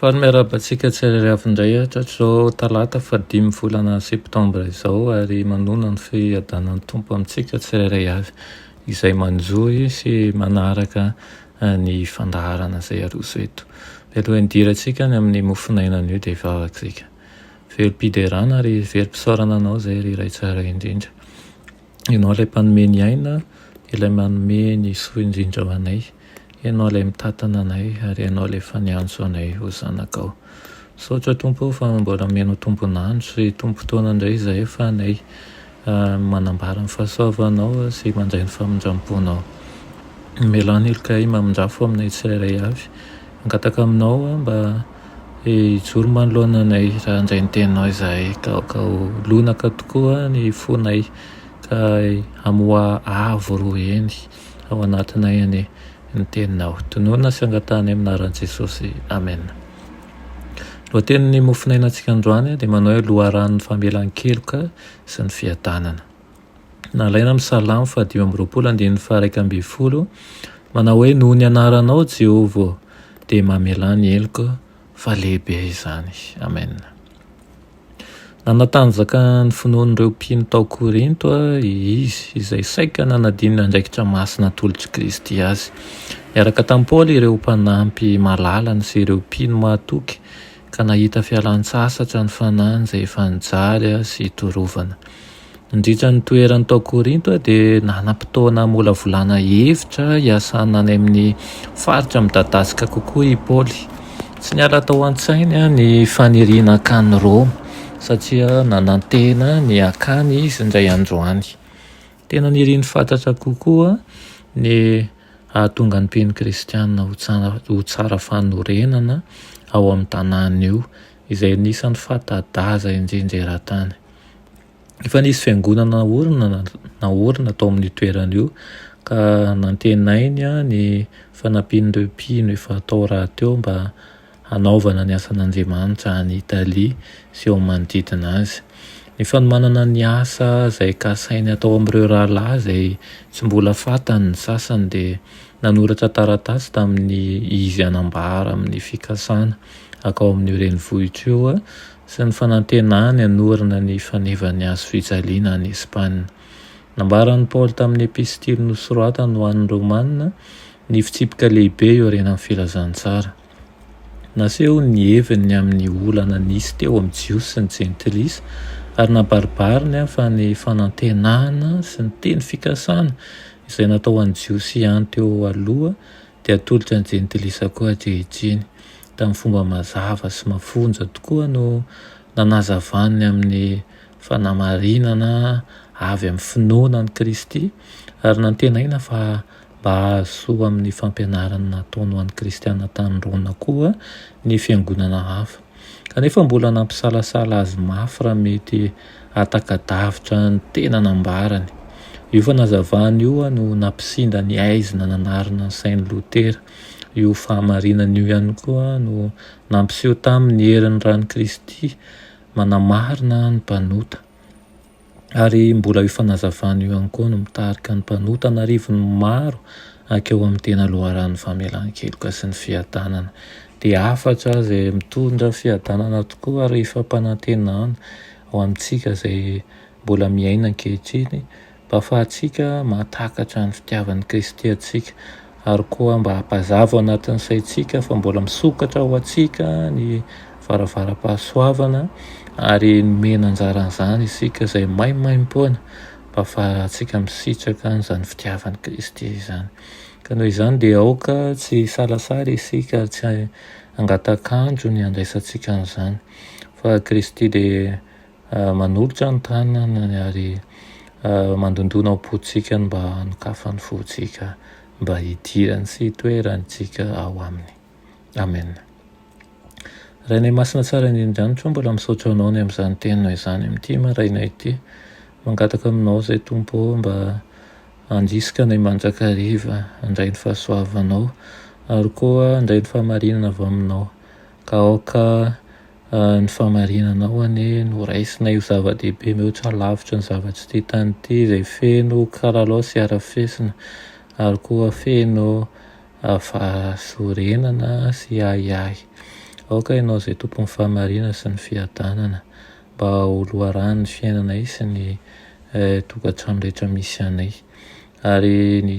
Faly miarahaba antsika tsirairay avy indray hatrizao talata fahadimy volana septambra izao ary manona ny fiadanan'ny Tompo amintsika tsirairay avy izay manjohy sy manaraka ny fandaharana izay aroso eto. Mialoha hidirantsika any amin'ny mofon'aina anio dia hivavaka isika. Velom-piderana ary velom-pisaorana anao izay ry Ray Tsara indrindra. Ianao ilay mpanome ny aina, ilay manome ny soa indrindra ho anay. Ianao ilay mitantana anay ary Ianao ilay efa niantso anay ho zanakao. Misaotra Tompo o fa mbola omenao tombon'andro sy tombom-potoana indray izahay ho fanay manambara ny fahasoavanao sy mandray ny famindram-ponao. Amelao ny helokay mamindrafo aminay tsirairay avy. Mangataka aminao mba Hijoro manoloana anay, raha handray ny teninao izahay, ka ho lonaka tokoa ny fonay, ka hamoa avo roa heny ao anatinay anie ny teninao. Tononina sy angatahinay amin'ny anaran'i Jesosy. Amena. Ny lohatenin'ny mofon'ainantsika androany dia manao hoe Loharanon'ny famelan-keloka sy ny fiadanana. Nalaina amin'ny Salamo fahadimy amby roapolo andininy faharaika ambin'ny folo, manao hoe, Noho ny anaranao, Jehovah ô, dia mamelà ny heloko, fa lehibe izany. Amena. Nanatanjaka ny finoan'ireo mpino tao Korinto izy, izay saika nanadino ny andraikitra masina atolotr'i Kristy azy. Niaraka tamin'i Paoly ireo mpanampy malalany sy ireo mpino mahatoky Ka nahita fialan-tsasatra ny fanahiny izay efa nijaly sy torovana. Nandritra ny toerany tao Korinto dia nanam-potoana hamolavolana hevitra hiasana any amin'ny faritra midadasika kokoa i Paoly. Tsy niala tao an-tsainy ny faniriana hankany Roma, satria nanantena ny hankany izy indray andro any. Tena niriny fatratra kokoa ny Hahatonga ny mpino kristiana ho tsara fanorenana ao amin'io tanàna io, izay anisan'ny fanta-daza indrindra eran-tany. Efa nisy fiangonana naorina tao amin'io toerana io, ka nantenainy ny fanampian'ireo mpino efa tao rahateo mba hanaovana ny asan'Andriamanitra any Italia sy eo manodidina azy. Ny fanomanana ny asa izay kasainy hatao amin'ireo rahalahy izay tsy mbola fantany ny sasany dia nanoratra taratasy tamin'ny izy hanambara amin'ny fikasana hakao amin'io renivohitra io sy ny fanantenany hanorina ny fanevan'ny hazo fijaliana any Espana. Nambaran'i Paoly tamin'ny epistily nosoratany ho an'ny Romana Ny fitsipika lehibe eo aorianan'ny filazantsara. Naseho ny heviny ny amin'ny olana nisy teo amin'ny Jiosy sy ny Jentilisa, ary nabaribariny fa ny fanantenana sy ny teny fikasana izay natao ho an'ny Jiosy ihany teo aloha dia hatolotry ny Jentilisa koa ankehitriny. Tamin'ny fomba mazava sy mafonja tokoa no nanazavany ny amin'ny fanamarinana avy amin'ny finoana an'i Kristy, ary nantenaina fa Mba hahazo soa amin'ny fampianarana nataony ho an'ny Kristianina tany Rona koa ny fiangonana hafa, kanefa mbola nampisalasala azy mafy raha mety hataka-davitra ny tena nambarany. Io fanazavana io no nampisinda ny haizina nanarina ny sain'i Lotera. Io fahamarinana io ihany koa no nampiseho taminy ny herin'ny ran'i Kristy manamarina ny mpanota. ary mbola io fanazavana io ihany koa no mitarika ny mpanota an'arivony maro hankeo amin'ny tena loharanon'ny famelan-keloka sy ny fiadanana. Dia hafatra izay mitondra fiadanana tokoa ary fampanantenana ho amintsika izay mbola miaina ankehitriny mba hahafahantsika mahatakatra ny fitiavan'i Kristy antsika. ary koa mba hampazava ao anatin'ny saintsika fa mbola misokatra ho antsika ny varavaram-pahasoavana ary nomena anjara an'izany isika izay maimaimpoana mba hahafahantsika misitraka an'izany fitiavan'i Kristy izany. Ka noho izany dia aoka tsy hisalasala isika ary tsy hangataka andro ny handraisantsika an'izany fa Kristy dia Manolotra ny tanany ary mandondona ao am-pontsika ny mba hanokafan'ny fontsika mba hidirany sy hitoerantsika ao Aminy. Amen. Rainay Masina Tsara Indrindra Andrianitra ô, mbola misaotra Anao ny amin'izany Teninao izany amin'ity maraina ity. Mangataka Aminao izay Tompo ô, mba handrisika anay mandrakariva handray ny fahasoavanao ary koa handray ny fahamarinana avy Aminao. Ka aoka ny fahamarinanao anie no raisinay ho zava-dehibe mihoatra lavitra ny zava-tsy tia tany ity, izay feno kalalao sy harafesina, ary koa feno fahasorenana sy ahiahy. Aoka ianao izay Tompon'ny fahamarinana sy ny fiadanana, mba ho loharanon' ny fiainanay sy ny tokantrano rehetra misy anay. Ary ny